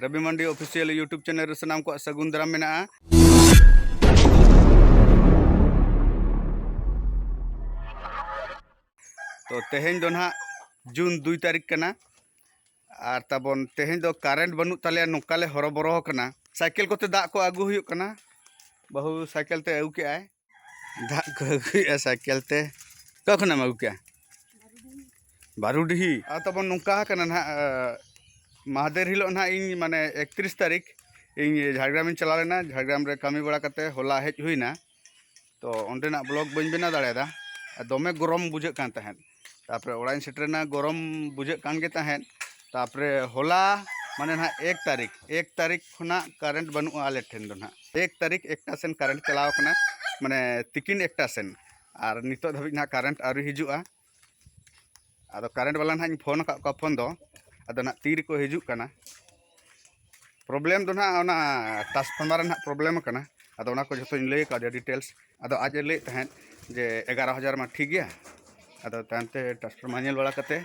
ᱨᱚᱵᱤ Mandi official YouTube channel ᱨᱮ ᱥᱟᱱᱟᱢ ᱠᱚᱣᱟᱜ ᱥᱟᱹᱜᱩᱱ ᱫᱟᱨᱟᱢ ᱢᱮᱱᱟᱜᱼᱟ ᱛᱚ ᱛᱮᱦᱮᱧ ᱫᱚ ᱱᱟᱦᱟᱜ ᱡᱩᱱ ᱫᱩᱭ ᱛᱟᱹᱨᱤᱠᱷ ᱠᱟᱱᱟ ᱟᱨ ᱛᱟᱵᱚᱱ ᱛᱮᱦᱮᱧ ᱫᱚ ᱠᱟᱨᱮᱱᱴ ᱵᱟᱹᱱᱩᱜ ᱛᱟᱞᱮᱭᱟ ᱱᱚᱝᱠᱟᱞᱮ ᱦᱚᱨᱚᱵᱚᱨᱚ ᱠᱟᱱᱟ ᱥᱟᱭᱠᱮᱞ ᱠᱚᱛᱮ ᱫᱟᱜ ᱠᱚ ᱟᱹᱜᱩ ᱦᱩᱭᱩᱜ ᱠᱟᱱᱟ ᱵᱟᱹᱦᱩ ᱥᱟᱭᱠᱮᱞ ᱛᱮ ᱟᱹᱜᱩ ᱠᱮᱜᱼᱟᱭ ᱫᱟᱜ ᱠᱚ ᱟᱹᱜᱩᱭᱮᱫᱼᱟ ᱥᱟᱭᱠᱮᱞ ᱛᱮ ᱚᱠᱟ ᱠᱷᱚᱱᱟᱜ ᱮᱢ ᱟᱹᱜᱩ ᱠᱮᱜᱼᱟ ᱵᱟᱨᱩᱰᱤᱦᱤ ᱟᱨ ᱛᱟᱵᱚᱱ ᱱᱚᱝᱠᱟ ᱠᱟᱱᱟ ᱱᱟᱦᱟᱜ ᱢᱟᱦᱟᱫᱮᱨ ᱦᱤᱞᱳᱜ ᱱᱟᱦᱟᱜ ᱤᱧ ᱢᱟᱱᱮ ᱮᱠᱛᱨᱤᱥ ᱛᱟᱹᱨᱤᱠᱷ ᱤᱧ ᱡᱷᱟᱲᱜᱨᱟᱢᱤᱧ ᱪᱟᱞᱟᱣ ᱞᱮᱱᱟ ᱡᱷᱟᱲᱜᱨᱟᱢ ᱨᱮ ᱠᱟᱹᱢᱤ ᱵᱟᱲᱟ ᱠᱟᱛᱮ ᱦᱚᱞᱟ ᱦᱮᱡ ᱦᱩᱭᱱᱟ ᱛᱚ ᱚᱸᱰᱮᱱᱟᱜ ᱵᱞᱚᱜᱽ ᱵᱟᱹᱧ ᱵᱮᱱᱟᱣ ᱫᱟᱲᱮᱭᱟᱫᱟ ᱟᱨ ᱫᱚᱢᱮ ᱜᱚᱨᱚᱢ ᱵᱩᱡᱷᱟᱹᱜ ᱠᱟᱱ ᱛᱟᱦᱮᱸᱫ ᱛᱟᱯᱚᱨᱮ ᱚᱲᱟᱜ ᱤᱧ ᱥᱮᱴᱮᱨᱮᱱᱟ ᱜᱚᱨᱚᱢ ᱵᱩᱡᱷᱟᱹᱜ ᱠᱟᱱ ᱜᱮ ᱛᱟᱦᱮᱸᱫ ᱛᱟᱯᱚᱨᱮ ᱦᱚᱞᱟ ᱢᱟᱱᱮ ᱱᱟᱜ ᱮᱠ ᱛᱟᱹᱨᱤᱠᱷ ᱮᱠ ᱛᱟᱹᱨᱤᱠᱷ ᱠᱷᱚᱱᱟᱜ ᱠᱟᱨᱮᱱᱴ ᱵᱟᱹᱱᱩᱜᱼᱟ ᱟᱞᱮ ᱴᱷᱮᱱ ᱫᱚ ᱱᱟᱜ ᱮᱠ ᱛᱟᱹᱨᱤᱠᱷ ᱮᱠᱴᱟ ᱥᱮᱱ ᱠᱟᱨᱮᱱᱴ ᱪᱟᱞᱟᱣ ᱠᱟᱱᱟ ᱢᱟᱱᱮ ᱛᱤᱠᱤᱱ ᱮᱠᱴᱟ ᱥᱮᱱ ᱟᱨ ᱱᱤᱛᱚᱜ ᱫᱷᱟᱹᱵᱤᱡ ᱱᱟᱜ ᱠᱟᱨᱮᱱᱴ ᱟᱹᱣᱨᱤ ᱦᱤᱡᱩᱜᱼᱟ ᱟᱫᱚ ᱠᱟᱨᱮᱱᱴ ᱵᱟᱞᱟ ᱱᱟᱜ ᱤᱧ ᱯᱷᱳᱱ ᱟᱠᱟᱫ ᱠᱚᱣᱟ ᱯᱷᱳᱱ ᱫᱚ ᱟᱫᱚ ᱱᱟᱜ ᱛᱤ ᱨᱮᱠᱚ ᱦᱤᱡᱩᱜ ᱠᱟᱱᱟ ᱯᱨᱚᱵᱞᱮᱢ ᱫᱚ ᱱᱟᱦᱟᱜ ᱚᱱᱟ ᱴᱨᱟᱱᱥᱯᱷᱚᱨᱢᱟᱨ ᱨᱮᱱᱟᱜ ᱯᱨᱚᱵᱞᱮᱢ ᱠᱟᱱᱟ ᱟᱫᱚ ᱚᱱᱟ ᱠᱚ ᱡᱚᱛᱚᱧ ᱞᱟᱹᱭ ᱠᱟᱣᱫᱮᱭᱟ ᱰᱤᱴᱮᱞᱥ ᱟᱫᱚ ᱟᱡ ᱮ ᱞᱟᱹᱭᱮᱫ ᱛᱟᱦᱮᱸᱫ ᱡᱮ ᱮᱜᱟᱨᱚ ᱦᱟᱡᱟᱨ ᱢᱟ ᱴᱷᱤᱠ ᱜᱮᱭᱟ ᱟᱫᱚ ᱛᱟᱭᱚᱢ ᱛᱮ ᱴᱨᱟᱱᱥᱯᱷᱚᱨᱢᱟᱨ ᱧᱮᱞ ᱵᱟᱲᱟ ᱠᱟᱛᱮ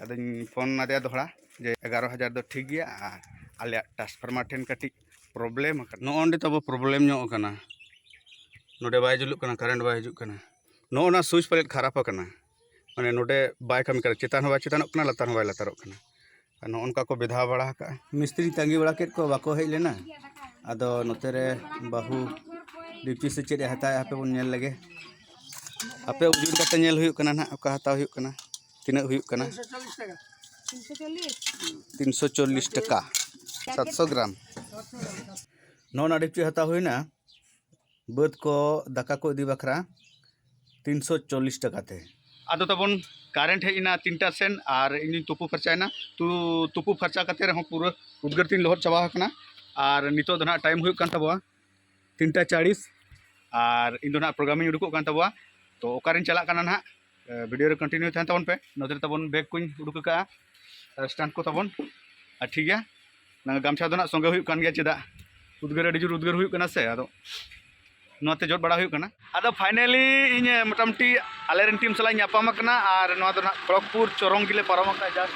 ᱟᱫᱚᱧ ᱯᱷᱳᱱ ᱟᱫᱮᱭᱟ ᱫᱚᱦᱲᱟ ᱡᱮ ᱮᱜᱟᱨᱚ ᱦᱟᱡᱟᱨ ᱫᱚ ᱴᱷᱤᱠ ᱜᱮᱭᱟ ᱟᱨ ᱟᱞᱮᱭᱟᱜ ᱴᱨᱟᱱᱥᱯᱷᱚᱨᱢᱟᱨ ᱴᱷᱮᱱ ᱠᱟᱹᱴᱤᱡ ᱯᱨᱚᱵᱞᱮᱢ ᱟᱠᱟᱱᱟ ᱱᱚᱜᱼᱚ ᱱᱚᱸᱰᱮ ᱛᱟᱵᱚ ᱯᱨᱚᱵᱞᱮᱢ ᱧᱚᱜ ᱟᱠᱟᱱᱟ ᱱᱚᱸᱰᱮ ᱵᱟᱭ ᱡᱩᱞᱩᱜ ᱠᱟᱱᱟ ᱠᱟᱨᱮᱱᱴ ᱵᱟᱭ ᱦᱤᱡᱩᱜ ᱠᱟᱱᱟ ᱱᱚᱜᱼᱚ ᱱᱚᱣᱟ ᱥᱩᱭᱤᱪ ᱯᱟᱞᱮᱫ ᱠᱷᱟᱨᱟᱯ ᱟᱠᱟᱱᱟ ᱢᱟᱱᱮ ᱱᱚᱰᱮ ᱵᱟᱭ ᱠᱟᱹᱢᱤ ᱠᱟᱱᱟ ᱪᱮᱛᱟᱱ ᱦᱚᱸ ᱵᱟᱭ ᱪᱮᱛᱟᱱᱚᱜ ᱠᱟᱱᱟ ᱞᱟᱛᱟᱨ ᱦᱚᱸ ᱵᱟᱭ ᱞᱟᱛᱟᱨᱚᱜ ᱠᱟᱱᱟ ᱟᱨ ᱱᱚᱜᱼᱚ ᱱᱚᱝᱠᱟ ᱠᱚ ᱵᱮᱫᱷᱟᱣ ᱵᱟᱲᱟ ᱟᱠᱟᱫᱼᱟ ᱢᱤᱥᱛᱨᱤ ᱛᱟᱺᱜᱤ ᱵᱟᱲᱟ ᱠᱮᱫ ᱠᱚ ᱵᱟᱠᱚ ᱦᱮᱡ ᱞᱮᱱᱟ ᱟᱫᱚ ᱱᱚᱛᱮ ᱨᱮ ᱵᱟᱹᱦᱩ ᱰᱤᱯᱪᱤ ᱥᱮ ᱪᱮᱫ ᱮ ᱦᱟᱛᱟᱣᱮᱫᱼᱟ ᱦᱟᱯᱮ ᱵᱚᱱ ᱧᱮᱞ ᱞᱮᱜᱮ ᱦᱟᱯᱮ ᱩᱡᱩᱨ ᱠᱟᱛᱮ ᱧᱮᱞ ᱦᱩᱭᱩᱜ ᱠᱟᱱᱟ ᱱᱟᱦᱟᱜ ᱚᱠᱟ ᱦᱟᱛᱟᱣ ᱦᱩᱭᱩᱜ ᱠᱟᱱᱟ ᱛᱤᱱᱟᱹᱜ ᱦᱩᱭᱩᱜ ᱠᱟᱱᱟ ᱛᱤᱱᱥᱚ ᱪᱚᱞᱞᱤᱥ ᱴᱟᱠᱟ ᱥᱟᱛᱥᱚ ᱜᱨᱟᱢ ᱱᱚᱜᱼᱚ ᱱᱚᱣᱟ ᱰᱤᱯᱪᱤ ᱦᱟᱛᱟᱣ ᱦᱩᱭᱱᱟ ᱵᱟᱹᱫᱽ ᱠᱚ ᱫᱟᱠᱟ ᱠᱚ ᱤᱫᱤ ᱵᱟᱠᱷᱨᱟ ᱛᱤᱱᱥᱚ ᱪᱚᱞᱞᱤᱥ ᱴᱟᱠᱟ ᱛᱮ ᱟᱫᱚ ᱛᱟᱵᱚᱱ ᱠᱟᱨᱮᱱᱴ ᱦᱮᱡ ᱮᱱᱟ ᱛᱤᱱᱴᱟ ᱥᱮᱱ ᱟᱨ ᱤᱧᱤᱧ ᱛᱩᱯᱩ ᱯᱷᱟᱨᱪᱟᱭᱮᱱᱟ ᱛᱩ ᱛᱩᱯᱩ ᱯᱷᱟᱨᱪᱟ ᱠᱟᱛᱮ ᱨᱮᱦᱚᱸ ᱯᱩᱨᱟᱹ ᱩᱫᱽᱜᱟᱹᱨ ᱛᱤᱧ ᱞᱚᱦᱚᱫ ᱪᱟᱵᱟ ᱟᱠᱟᱱᱟ ᱟᱨ ᱱᱤᱛᱚᱜ ᱫᱚ ᱱᱟᱦᱟᱜ ᱴᱟᱭᱤᱢ ᱦᱩᱭᱩᱜ ᱠᱟᱱ ᱛᱟᱵᱚᱣᱟ ᱛᱤᱱᱴᱟ ᱪᱟᱲᱤᱥ ᱟᱨ ᱤᱧ ᱫᱚ ᱱᱟᱦᱟᱜ ᱯᱨᱳᱜᱨᱟᱢᱤᱧ ᱩᱰᱩᱠᱚᱜ ᱠᱟᱱ ᱛᱟᱵᱚᱣᱟ ᱛᱚ ᱚᱠᱟᱨᱤᱧ ᱪᱟᱞᱟᱜ ᱠᱟᱱᱟ ᱱᱟᱦᱟᱜ ᱵᱷᱤᱰᱤᱭᱳ ᱨᱮ ᱠᱚᱱᱴᱤᱱᱤᱭᱩ ᱛᱟᱦᱮᱱ ᱛᱟᱵᱚᱱ ᱯᱮ ᱱᱚᱛᱮ ᱨᱮ ᱛᱟᱵᱚᱱ ᱵᱮᱜᱽ ᱠᱚᱧ ᱩᱰᱩᱠ ᱟᱠᱟᱫᱼᱟ ᱟᱨ ᱥᱴᱟᱱᱴ ᱠᱚ ᱛᱟᱵᱚᱱ ᱟᱨ ᱴᱷᱤᱠ ᱜᱮᱭᱟ ᱜᱟᱢᱪᱷᱟ ᱫᱚ ᱱᱟᱜ ᱥᱚᱸᱜᱮ ᱦᱩᱭᱩᱜ ᱠᱟᱱ ᱜᱮᱭᱟ ᱪᱮᱫᱟᱜ ᱩᱫᱽᱜᱟᱹᱨ ᱟᱹᱰᱤ ᱡᱳᱨ ᱩᱫᱽᱜᱟᱹᱨ ᱦᱩᱭᱩᱜ ᱠᱟᱱᱟ ᱥᱮ ᱟᱫᱚ ᱱᱚᱣᱟᱛᱮ ᱡᱚᱫ ᱵᱟᱲᱟ ᱦᱩᱭᱩᱜ ᱠᱟᱱᱟ ᱟᱫᱚ ᱯᱷᱟᱭᱱᱟᱞᱤ ᱤᱧ ᱢᱚᱴᱟᱢᱩᱴᱤ ᱟᱞᱮᱨᱮᱱ ᱴᱤᱢ ᱥᱟᱞᱟᱜ ᱤᱧ ᱧᱟᱯᱟᱢ ᱟᱠᱟᱱᱟ ᱟᱨ ᱱᱚᱣᱟ ᱫᱚ ᱱᱟᱜ ᱠᱷᱚᱲᱚᱜᱽᱯᱩᱨ ᱪᱚᱨᱚᱝ ᱜᱮᱞᱮ ᱯᱟᱨᱚᱢ ᱟᱠᱟᱫᱼᱟ ᱡᱟᱥᱴ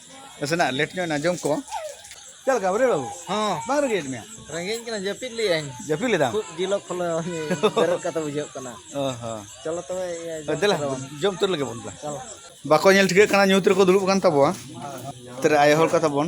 ᱱᱟᱥᱮᱱᱟᱜ ᱞᱮᱴ ᱧᱚᱜ ᱟᱸᱡᱚᱢ ᱠᱚ ᱪᱮᱫ ᱞᱮᱠᱟ ᱵᱟᱹᱨᱭᱟᱹᱲ ᱵᱟᱹᱵᱩ ᱦᱚᱸ ᱵᱟᱝ ᱨᱮᱸᱜᱮᱡ ᱢᱮᱭᱟ ᱨᱮᱸᱜᱮᱡ ᱠᱟᱱᱟ ᱡᱟᱹᱯᱤᱫ ᱞᱮᱭᱟᱹᱧ ᱡᱟᱹᱯᱤᱫ ᱞᱮᱫᱟᱢ ᱠᱷᱩᱵ ᱡᱤᱞᱚ ᱠᱷᱚᱞᱚ ᱵᱮᱨᱮᱫ ᱠᱟᱛᱮ ᱵᱩᱡᱷᱟᱹᱜ ᱠᱟᱱᱟ ᱚ ᱦᱚᱸ ᱪᱚᱞᱚ ᱛᱚᱵᱮ ᱤᱭᱟᱹ ᱡᱚᱢ ᱫᱮᱞᱟ ᱠᱮᱫᱟ ᱵᱚᱱ᱾ ᱡᱚᱢ ᱩᱛᱟᱹᱨ ᱞᱮᱜᱮ ᱵᱚᱱ ᱫᱮᱞᱟ ᱪᱚᱞᱚ ᱵᱟᱠᱚ ᱧᱮᱞ ᱴᱷᱤᱠᱟᱹᱜ ᱠᱟᱱᱟ ᱧᱩᱛ ᱨᱮᱠᱚ ᱫᱩᱲᱩᱵ ᱠᱟᱱ ᱛᱟᱵᱚᱣᱟ ᱛᱟᱨ ᱟᱭᱳ ᱦᱚᱲ ᱠᱚ ᱛᱟᱵᱚᱱ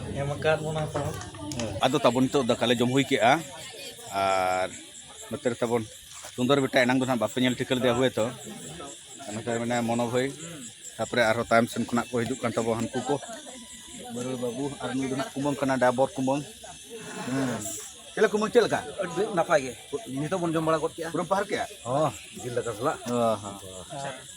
ᱮᱢ ᱟᱠᱟᱫ ᱵᱚᱱᱟ ᱠᱚ ᱟᱫᱚ ᱛᱟᱵᱚᱱ ᱱᱤᱛᱚᱜ ᱫᱟᱠᱟ ᱞᱮ ᱡᱚᱢ ᱦᱩᱭ ᱠᱮᱜᱼᱟ ᱟᱨ ᱱᱚᱛᱮ ᱨᱮ ᱛᱟᱵᱚᱱ ᱥᱩᱱᱫᱚᱨ ᱵᱮᱴᱟ ᱮᱱᱟᱝ ᱫᱚ ᱱᱟᱦᱟᱜ ᱵᱟᱯᱮ ᱧᱮᱞ ᱴᱷᱤᱠᱟᱹ ᱞᱮᱫᱮᱭᱟ ᱦᱩᱭ ᱛᱚ ᱱᱚᱛᱮ ᱢᱮᱱᱟᱭᱟ ᱢᱚᱱᱳ ᱵᱷᱟᱹᱭ ᱛᱟᱯᱚᱨᱮ ᱟᱨᱦᱚᱸ ᱛᱟᱭᱚᱢ ᱥᱮᱱ ᱠᱷᱚᱱᱟᱜ ᱠᱚ ᱦᱤᱡᱩᱜ ᱠᱟᱱ ᱛᱟᱵᱚᱱ ᱦᱟᱹᱱᱠᱩ ᱠᱚ ᱵᱟᱹᱨᱩ ᱵᱟᱹᱵᱩ ᱟᱨ ᱱᱩᱭ ᱫᱚ ᱱᱟᱦᱟᱜ ᱠᱩᱢᱟᱹᱝ ᱠᱟᱱᱟ ᱰᱟᱵᱚᱨ ᱠᱩᱢᱟᱹᱝ ᱪᱮᱫ ᱞᱮᱠᱟ ᱠᱩᱢᱟᱹᱝ ᱪᱮᱫ ᱞᱮᱠᱟ ᱟᱹᱰᱤ ᱱᱟᱯᱟᱭ ᱜᱮ ᱱᱤᱛᱚᱜ ᱵᱚᱱ ᱡᱚᱢ ᱵᱟᱲᱟ ᱜᱚᱫ ᱠᱮᱜᱼᱟ ᱯᱩᱨᱟᱹᱢ ᱯᱟᱦᱟᱨ ᱠᱮᱜᱼᱟ ᱦᱚᱸ ᱡᱤᱞ ᱫᱟᱠᱟ ᱥᱟᱞᱟᱜ ᱦᱚᱸ ᱦᱚᱸ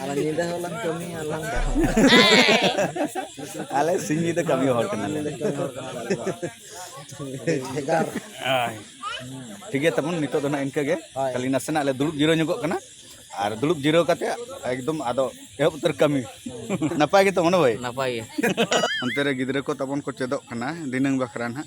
ᱟᱞᱮ ᱧᱤᱫᱟᱹ ᱦᱚᱸ ᱞᱟᱝ ᱠᱟᱹᱢᱤᱭᱟ ᱞᱟᱝ ᱟᱞᱮ ᱥᱤᱧ ᱧᱤᱫᱟᱹ ᱠᱟᱹᱢᱤ ᱦᱚᱲ ᱠᱟᱱᱟᱞᱮ ᱵᱷᱮᱜᱟᱨ ᱴᱷᱤᱠ ᱜᱮᱭᱟ ᱛᱟᱵᱚᱱ ᱱᱤᱛᱚᱜ ᱫᱚ ᱱᱟᱜ ᱤᱱᱠᱟᱹ ᱜᱮ ᱠᱷᱟᱹᱞᱤ ᱱᱟᱥᱮᱱᱟᱜ ᱞᱮ ᱫᱩᱲᱩᱵ ᱡᱤᱨᱟᱹᱣ ᱧᱚᱜᱚᱜ ᱠᱟᱱᱟ ᱟᱨ ᱫᱩᱲᱩᱵ ᱡᱤᱨᱟᱹᱣ ᱠᱟᱛᱮ ᱮᱠᱫᱚᱢ ᱟᱫᱚ ᱮᱦᱚᱵ ᱩᱛᱟᱹᱨ ᱠᱟᱹᱢᱤ ᱱᱟᱯᱟᱭ ᱜᱮᱛᱚ ᱢᱚᱱᱳ ᱵᱷᱟᱭ ᱱᱟᱯᱟᱭ ᱜᱮ ᱚᱱᱛᱮ ᱨᱮ ᱜᱤᱫᱽᱨᱟᱹ ᱠᱚ ᱛᱟᱵᱚᱱ ᱠᱚ ᱪᱮᱫᱚᱜ ᱠᱟᱱᱟ ᱫᱤᱱᱟᱹᱝ ᱵᱟᱠᱷᱨᱟ ᱱᱟᱜ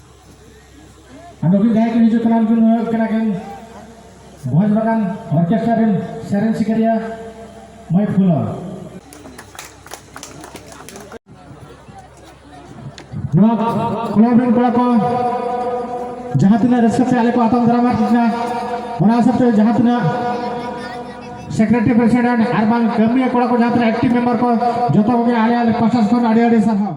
ᱱᱩᱠᱤᱱ ᱡᱟᱦᱟᱸᱭ ᱠᱤᱱ ᱦᱤᱡᱩᱜ ᱠᱟᱱᱟ ᱩᱱᱠᱤᱱ ᱦᱩᱭᱩᱜ ᱠᱟᱱᱟ ᱠᱤᱱ ᱵᱷᱚᱡᱽ ᱵᱟᱜᱟᱱ ᱚᱨᱠᱮᱥᱴᱨᱟ ᱨᱮᱱ ᱥᱮᱨᱮᱧ ᱥᱤᱠᱟᱹᱨᱤᱭᱟᱹ ᱢᱟᱹᱭ ᱯᱷᱩᱞᱚ ᱱᱚᱣᱟ ᱠᱞᱚᱵ ᱨᱮᱱ ᱠᱚᱲᱟ ᱠᱚ ᱡᱟᱦᱟᱸ ᱛᱤᱱᱟᱹᱜ ᱨᱟᱹᱥᱠᱟᱹ ᱛᱮ ᱟᱞᱮ ᱠᱚ ᱟᱛᱟᱝ ᱫᱟᱨᱟᱢᱟ ᱠᱟᱱᱟ ᱚᱱᱟ ᱦᱤᱥᱟᱹᱵ ᱛᱮ ᱡᱟᱦᱟᱸ ᱛᱤᱱᱟᱹᱜ ᱥᱮᱠᱨᱮᱴᱟᱨᱤ ᱯᱨᱮᱥᱤᱰᱮᱱᱴ ᱟᱨ ᱵᱟᱝ ᱠᱟᱹᱢᱤᱭᱟᱹ ᱠᱚᱲᱟ ᱠᱚ ᱡᱟᱦᱟᱸ ᱛᱤᱱᱟᱹᱜ ᱮᱠᱴᱤᱵᱷ ᱢᱮᱢᱵᱟᱨ ᱠᱚ ᱡᱚᱛᱚ ᱠᱚᱜᱮ ᱟᱞᱮ ᱟᱞᱮ ᱯᱟᱥᱴᱟ ᱠᱷᱚᱱ ᱟᱹᱰᱤ ᱟᱹᱰᱤ ᱥᱟᱨᱦᱟᱣ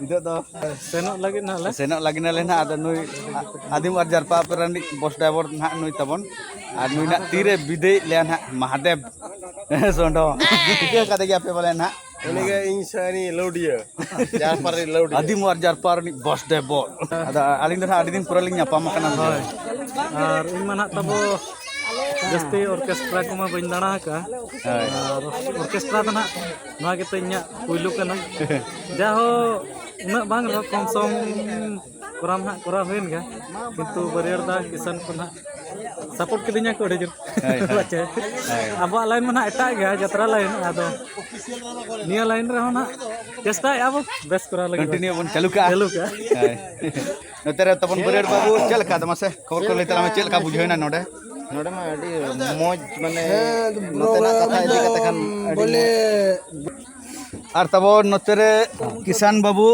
ᱱᱤᱛᱚᱜ ᱫᱚ ᱥᱮᱱᱚᱜ ᱞᱟᱹᱜᱤᱫ ᱱᱟᱦᱟᱜ ᱞᱮ ᱥᱮᱱᱚᱜ ᱞᱟᱹᱜᱤᱫ ᱱᱟᱞᱮ ᱱᱟᱦᱟᱜ ᱟᱫᱚ ᱱᱩᱭ ᱟᱹᱫᱤᱢ ᱟᱨ ᱡᱟᱨᱯᱟ ᱨᱤᱱᱤᱡ ᱵᱚᱥ ᱰᱨᱟᱭᱵᱷᱟᱨ ᱱᱟᱦᱟᱜ ᱱᱩᱭ ᱛᱟᱵᱚᱱ ᱟᱨ ᱱᱩᱭ ᱱᱟᱦᱟᱜ ᱛᱤᱨᱮ ᱵᱤᱫᱟᱹᱭᱮᱫ ᱞᱮᱭᱟ ᱱᱟᱦᱟᱜ ᱢᱟᱦᱟᱫᱮᱵ ᱥᱚᱸᱰᱚ ᱴᱷᱤᱠᱟᱹ ᱠᱟᱫᱮ ᱜᱮᱭᱟ ᱯᱮ ᱵᱚᱞᱮ ᱱᱟᱦᱟᱜ ᱩᱱᱤᱜᱮ ᱤᱧ ᱥᱟᱹᱨᱤ ᱞᱟᱹᱣᱰᱤᱭᱟᱹ ᱡᱟᱨᱯᱟ ᱨᱤᱱᱤᱡ ᱞᱟᱹᱣᱰᱤᱭᱟᱹ ᱟᱹᱫᱤᱢ ᱟᱨ ᱡᱟᱨᱯᱟ ᱨᱤᱱᱤᱡ ᱵᱚᱥ ᱰᱨᱟᱭᱵᱷᱟᱨ ᱟᱫᱚ ᱟᱹᱞᱤᱧ ᱫᱚ ᱱᱟᱦᱟᱜ ᱟᱹᱰᱤ ᱫᱤᱱ ᱯᱚᱨᱮ ᱞᱤᱧ ᱧᱟᱯᱟᱢ ᱟᱠᱟᱱᱟ ᱦᱳᱭ ᱟᱨ ᱤᱧ ᱢᱟ ᱱᱟᱦᱟᱜ ᱛᱟᱵᱚ ᱡᱟᱹᱥᱛᱤ ᱚᱨᱠᱮᱥᱴᱨᱟ ᱠᱚᱢᱟ ᱵᱟᱹᱧ ᱫᱟᱬᱟ ᱟᱠᱟᱫᱼᱟ ᱟᱨ ᱚᱨᱠᱮᱥᱴᱨᱟ ᱫᱚ ᱱᱟᱦᱟᱜ ᱱᱚᱣᱟ ᱜᱮᱛᱚ ᱤᱧᱟᱹᱜ ᱯᱩᱭᱞᱩ ᱠᱟᱱᱟ ᱡᱟᱦᱳ ᱩᱱᱟᱹᱜ ᱵᱟᱝ ᱨᱮᱦᱚᱸ ᱠᱚᱢ ᱥᱚᱢ ᱠᱚᱨᱟᱣ ᱱᱟᱦᱟᱜ ᱠᱚᱨᱟᱣ ᱦᱩᱭᱮᱱ ᱜᱮᱭᱟ ᱠᱤᱱᱛᱩ ᱵᱟᱹᱨᱭᱟᱹᱲ ᱫᱟ ᱠᱤᱥᱟᱱ ᱠᱚ ᱱᱟᱦᱟᱜ ᱥᱟᱯᱳᱨᱴ ᱠᱤᱫᱤᱧᱟ ᱠᱚ ᱟᱹᱰᱤ ᱡᱳᱨ ᱯᱟᱪᱮ ᱟᱵᱚᱣᱟᱜ ᱞᱟᱭᱤᱱ ᱢᱟ ᱱᱟᱦᱟᱜ ᱮᱴᱟᱜ ᱜᱮᱭᱟ ᱡᱟᱛᱨᱟ ᱞᱟᱭᱤᱱ ᱟᱫᱚ ᱱᱤᱭᱟᱹ ᱞᱟᱭᱤᱱ ᱨᱮᱦᱚᱸ ᱱᱟᱦᱟᱜ ᱪᱮᱥᱴᱟᱭᱮᱫᱼᱟ ᱵᱚᱱ ᱵᱮᱥ ᱠᱚᱨᱟᱣ ᱞᱟᱹᱜᱤᱫ ᱠᱚᱱᱴᱤᱱᱤᱭᱩ ᱵᱚᱱ ᱪᱟᱹᱞᱩ ᱠᱟᱜᱼᱟ ᱪᱟᱹᱞᱩ ᱠᱟᱜᱼᱟ ᱱᱚᱛᱮ ᱨᱮ ᱛᱟᱵᱚᱱ ᱵᱟᱹᱨᱭᱟᱹᱲ ᱵᱟᱹᱵᱩ ᱪᱮᱫ ᱞᱮᱠᱟ ᱟᱫᱚ ᱢᱟᱥᱮ ᱠᱷᱚᱵᱚᱨ ᱠᱚ ᱞᱟᱹᱭ ᱛᱟᱞᱟᱝ ᱢᱮ ᱪᱮᱫ ᱞᱮᱠᱟ ᱵᱩᱡᱷᱟᱹᱣᱮᱱᱟ ᱱᱚᱰᱮ ᱱᱚᱰᱮ ᱢᱟ ᱟᱹᱰᱤ ᱢᱚᱡᱽ ᱢᱟᱱᱮ ᱱᱚᱛᱮᱱᱟᱜ ᱠᱟᱛᱷᱟ ᱤᱫᱤ ᱠᱟᱛᱮ ᱠᱷᱟᱱ ᱵᱚᱞᱮ ᱟᱨ ᱛᱟᱵᱚᱱ ᱱᱚᱛᱮ ᱨᱮ ᱠᱤᱥᱟᱱ ᱵᱟᱹᱵᱩ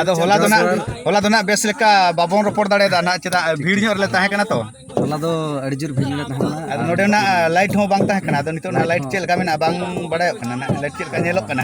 ᱟᱫᱚ ᱦᱚᱞᱟ ᱫᱚ ᱱᱟᱜ ᱦᱚᱞᱟ ᱫᱚ ᱱᱟᱜ ᱵᱮᱥ ᱞᱮᱠᱟ ᱵᱟᱵᱚᱱ ᱨᱚᱯᱚᱲ ᱫᱟᱲᱮᱭᱟᱫᱟ ᱱᱟᱜ ᱪᱮᱫᱟᱜ ᱵᱷᱤᱲ ᱧᱚᱜ ᱨᱮᱞᱮ ᱛᱟᱦᱮᱸ ᱠᱟᱱᱟ ᱛᱚ ᱦᱚᱞᱟ ᱫᱚ ᱟᱹᱰᱤ ᱡᱳᱨ ᱵᱷᱤᱲ ᱞᱮ ᱛᱟᱦᱮᱸ ᱠᱟᱱᱟ ᱟᱫᱚ ᱱᱚᱰᱮᱱᱟᱜ ᱞᱟᱭᱤᱴ ᱦᱚᱸ ᱵᱟᱝ ᱛᱟᱦᱮᱸ ᱠᱟᱱᱟ ᱟᱫᱚ ᱱᱤᱛᱚᱜ ᱱᱟᱜ ᱞᱟᱭᱤᱴ ᱪᱮᱫ ᱞᱮᱠᱟ ᱢᱮᱱᱟᱜᱼᱟ ᱵᱟᱝ ᱵᱟᱲᱟᱭᱚᱜ ᱠᱟᱱᱟ ᱱᱟᱜ ᱞᱟᱭᱤᱴ ᱪᱮᱫ ᱞᱮᱠᱟ ᱧᱮᱞᱚᱜ ᱠᱟᱱᱟ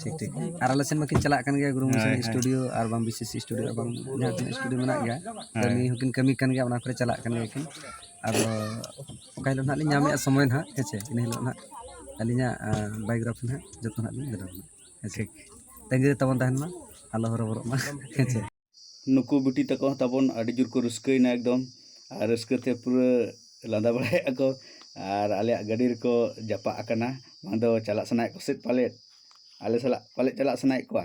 ᱴᱷᱤᱠ ᱴᱷᱤᱠ ᱟᱨ ᱟᱞᱮ ᱥᱮᱱ ᱢᱟᱠᱤᱱ ᱪᱟᱞᱟᱜ ᱠᱟᱱ ᱜᱮᱭᱟ ᱜᱩᱨᱩ ᱢᱩᱨᱢᱩ ᱥᱮᱱᱟᱜ ᱥᱴᱩᱰᱤᱭᱳ ᱟᱨ ᱵᱟᱝ ᱵᱤᱥᱮᱥ ᱥᱴᱩᱰᱤᱭᱳ ᱟᱨ ᱵᱟᱝ ᱡᱟᱦᱟᱸ ᱛᱤᱱᱟᱹᱜ ᱥᱴᱩᱰᱤᱭᱳ ᱢᱮᱱᱟᱜ ᱜᱮᱭᱟ ᱠᱟᱹᱢᱤ ᱦᱚᱸᱠᱤᱱ ᱠᱟᱹᱢᱤ ᱠᱟᱱ ᱜᱮᱭᱟ ᱚᱱᱟ ᱠᱚᱨᱮ ᱪᱟᱞᱟᱜ ᱠᱟᱱ ᱜᱮᱭᱟ ᱠᱤᱱ ᱟᱫᱚ ᱚᱠᱟ ᱦᱤᱞᱳᱜ ᱦᱟᱸᱜ ᱞᱤᱧ ᱧᱟᱢᱮᱜᱼᱟ ᱥᱚᱢᱚᱭ ᱦᱟᱸᱜ ᱦᱮᱸ ᱥᱮ ᱤᱱᱟᱹ ᱦᱤᱞᱳᱜ ᱦᱟᱸᱜ ᱟᱹᱞᱤᱧᱟᱜ ᱵᱟᱭᱳᱜᱨᱟᱯᱷᱤ ᱦᱟᱸᱜ ᱡᱚᱛᱚ ᱦᱟᱸᱜ ᱞᱤᱧ ᱵᱮᱱᱟᱣᱟ ᱦᱮᱸ ᱥᱮ ᱛᱟᱺᱜᱤ ᱨᱮ ᱛᱟᱵᱚᱱ ᱛᱟᱦᱮᱱ ᱢᱟ ᱟᱞᱚ ᱦᱚᱨᱚᱵᱚᱨᱚᱜ ᱢᱟ ᱦᱮᱸ ᱥᱮ ᱱᱩᱠᱩ ᱵᱤᱴᱤ ᱛᱟᱠᱚ ᱦᱚᱸ ᱛᱟᱵᱚᱱ ᱟᱹᱰᱤ ᱡᱳᱨ ᱠᱚ ᱨᱟᱹᱥᱠᱟᱹᱭᱮᱱᱟ ᱮᱠᱫᱚᱢ ᱟᱨ ᱨᱟᱹᱥᱠᱟᱹ ᱛᱮ ᱯᱩᱨᱟᱹ ᱞᱟᱸᱫᱟ ᱵᱟᱲᱟᱭᱮᱫᱼᱟ ᱠᱚ ᱟᱨ ᱟᱞᱮᱭᱟᱜ ᱜᱟᱹᱰᱤ ᱨᱮᱠᱚ ᱡᱟᱯᱟᱜ ᱟᱠᱟᱱᱟ ᱵᱟᱝ ᱫᱚ ᱪᱟᱞᱟᱜ ᱥᱟᱱᱟᱭᱮᱫ ᱠᱚ ᱥᱮᱫ ᱯᱟᱞᱮᱫ ᱟᱞᱮ ᱥᱟᱞᱟᱜ ᱯᱟᱞᱮᱫ ᱪᱟᱞᱟᱜ ᱥᱟᱱᱟᱭᱮᱫ ᱠᱚᱣᱟ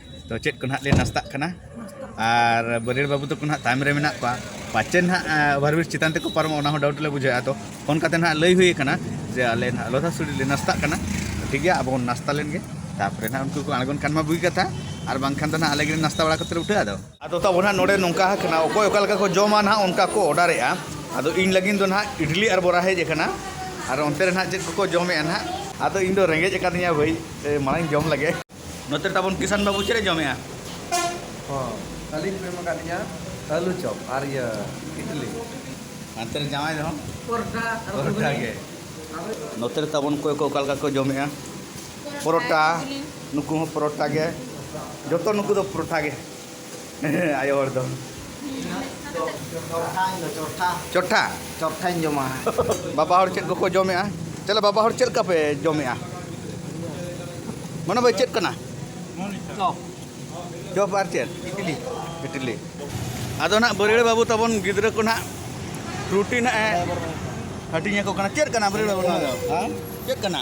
ᱛᱚ ᱪᱮᱫ ᱠᱚ ᱱᱟᱦᱟᱜ ᱞᱮ ᱱᱟᱥᱛᱟᱜ ᱠᱟᱱᱟ ᱟᱨ ᱵᱟᱹᱨᱭᱟᱹᱲ ᱵᱟᱹᱵᱩ ᱛᱟᱠᱚ ᱱᱟᱦᱟᱜ ᱛᱟᱭᱚᱢ ᱨᱮ ᱢᱮᱱᱟᱜ ᱠᱚᱣᱟ ᱯᱟᱪᱮ ᱱᱟᱦᱟᱜ ᱚᱵᱷᱟᱨᱵᱨᱤᱡᱽ ᱪᱮᱛᱟᱱ ᱛᱮᱠᱚ ᱯᱟᱨᱚᱢᱚᱜ ᱚᱱᱟ ᱦᱚᱸ ᱰᱟᱣᱩᱴ ᱞᱮ ᱵᱩᱡᱷᱟᱹᱣᱮᱫᱼᱟ ᱛᱚ ᱯᱷᱳᱱ ᱠᱟᱛᱮ ᱱᱟᱦᱟᱜ ᱞᱟᱹᱭ ᱦᱩᱭ ᱟᱠᱟᱱᱟ ᱡᱮ ᱟᱞᱮ ᱱᱟᱦᱟᱜ ᱞᱚᱫᱷᱟ ᱥᱩᱨᱤ ᱞᱮ ᱱᱟᱥᱛᱟᱜ ᱠᱟᱱᱟ ᱴᱷᱤᱠ ᱜᱮᱭᱟ ᱟᱵᱚ ᱵᱚᱱ ᱱᱟᱥᱛᱟ ᱞᱮᱱ ᱜᱮ ᱛᱟᱯᱚᱨᱮ ᱱᱟᱦᱟᱜ ᱩᱱᱠᱩ ᱠᱚ ᱟᱬᱜᱚᱱ ᱠᱷᱟᱱ ᱢᱟ ᱵᱩᱜᱤ ᱠᱟᱛᱷᱟ ᱟᱨ ᱵᱟᱝᱠᱷᱟᱱ ᱫᱚ ᱱᱟᱦᱟᱜ ᱟᱞᱮ ᱜᱮᱞᱮ ᱱᱟᱥᱛᱟ ᱵᱟᱲᱟ ᱠᱟᱛᱮ ᱞᱮ ᱩᱴᱷᱟᱹᱜᱼᱟ ᱟᱫᱚ ᱟᱫᱚ ᱛᱟᱵᱚ ᱱᱟᱦᱟᱜ ᱱᱚᱰᱮ ᱱᱚᱝᱠᱟ ᱟᱠᱟᱱᱟ ᱚᱠᱚᱭ ᱚᱠᱟ ᱞᱮᱠᱟ ᱠᱚ ᱡᱚᱢᱟ ᱱᱟᱦᱟᱜ ᱚᱱᱠᱟ ᱠᱚ ᱚᱰᱟᱨᱮᱜᱼᱟ ᱟᱫᱚ ᱤᱧ ᱞᱟᱹᱜᱤᱫ ᱫᱚ ᱱᱟᱦᱟᱜ ᱤᱰᱞᱤ ᱟᱨ ᱵᱚᱨᱟ ᱦᱮᱡ ᱟᱠᱟᱱᱟ ᱟᱨ ᱚᱱᱛᱮ ᱨᱮ ᱱᱟᱦᱟᱜ ᱪᱮᱫ ᱠᱚᱠᱚ ᱡᱚᱢᱮᱜᱼᱟ ᱱᱟᱦᱟᱜ ᱟᱫᱚ ᱤᱧ ᱫᱚ ᱨᱮᱸᱜᱮᱡ ᱟᱠᱟᱫᱤᱧᱟ ᱵᱷᱟᱹᱭ ᱢᱟᱲᱟᱝ ᱡᱚᱢ ᱞᱮᱜᱮ ᱱᱚᱛᱮ ᱛᱟᱵᱚᱱ ᱠᱤᱥᱟᱱ ᱵᱟᱹᱵᱩ ᱪᱮᱫ ᱮ ᱡᱚᱢᱮᱜᱼᱟ ᱦᱚᱸ ᱟᱹᱞᱤᱧ ᱠᱚ ᱮᱢ ᱟᱠᱟᱫ ᱞᱤᱧᱟ ᱟᱹᱞᱩ ᱪᱚᱯ ᱟᱨ ᱤᱭᱟᱹ ᱤᱰᱞᱤ ᱦᱟᱱᱛᱮ ᱨᱮ ᱡᱟᱶᱟᱭ ᱫᱚ ᱯᱚᱨᱚᱴᱟ ᱯᱚᱨᱚᱴᱟ ᱜᱮ ᱱᱚᱛᱮ ᱨᱮ ᱛᱟᱵᱚᱱ ᱚᱠᱚᱭ ᱠᱚ ᱚᱠᱟ ᱞᱮᱠᱟ ᱠᱚ ᱡᱚᱢᱮᱜᱼᱟ ᱯᱚᱨᱚᱴᱟ ᱱᱩᱠᱩ ᱦᱚᱸ ᱯᱚᱨᱚᱴᱟ ᱜᱮ ᱡᱚᱛᱚ ᱱᱩᱠᱩ ᱫᱚ ᱯᱚᱨᱚᱴᱟ ᱜᱮ ᱟᱭᱳ ᱦᱚᱲ ᱫᱚ ᱪᱚᱴᱷᱟ ᱪᱚᱴᱷᱟᱧ ᱡᱚᱢᱟ ᱵᱟᱵᱟ ᱦᱚᱲ ᱪᱮᱫ ᱠᱚᱠᱚ ᱡᱚᱢᱮᱜᱼᱟ ᱛᱟᱦᱞᱮ ᱵᱟᱵᱟ ᱦᱚᱲ ᱪᱮᱫ ᱞᱮᱠᱟ ᱯᱮ ᱡᱚᱢᱮᱜᱼᱟ ᱢᱚᱱᱳ ᱵᱷᱟᱭ ᱪᱮᱫ ᱠᱟᱱᱟ ᱪᱚᱯ ᱟᱨ ᱪᱮᱫ ᱤᱴᱞᱤ ᱤᱴᱞᱤ ᱟᱫᱚ ᱱᱟᱜ ᱵᱟᱹᱨᱤᱲᱟᱹ ᱵᱟᱹᱵᱩ ᱛᱟᱵᱚᱱ ᱜᱤᱫᱽᱨᱟᱹ ᱠᱚ ᱱᱟᱜ ᱨᱩᱴᱤ ᱱᱟᱜ ᱮ ᱦᱟᱹᱴᱤᱧ ᱟᱠᱚ ᱠᱟᱱᱟ ᱪᱮᱫ ᱠᱟᱱᱟ ᱵᱟᱹᱨᱤᱲᱟᱹ ᱵᱟᱹᱵᱩ ᱱᱚᱣᱟ ᱫᱚ ᱪᱮᱫ ᱠᱟᱱᱟ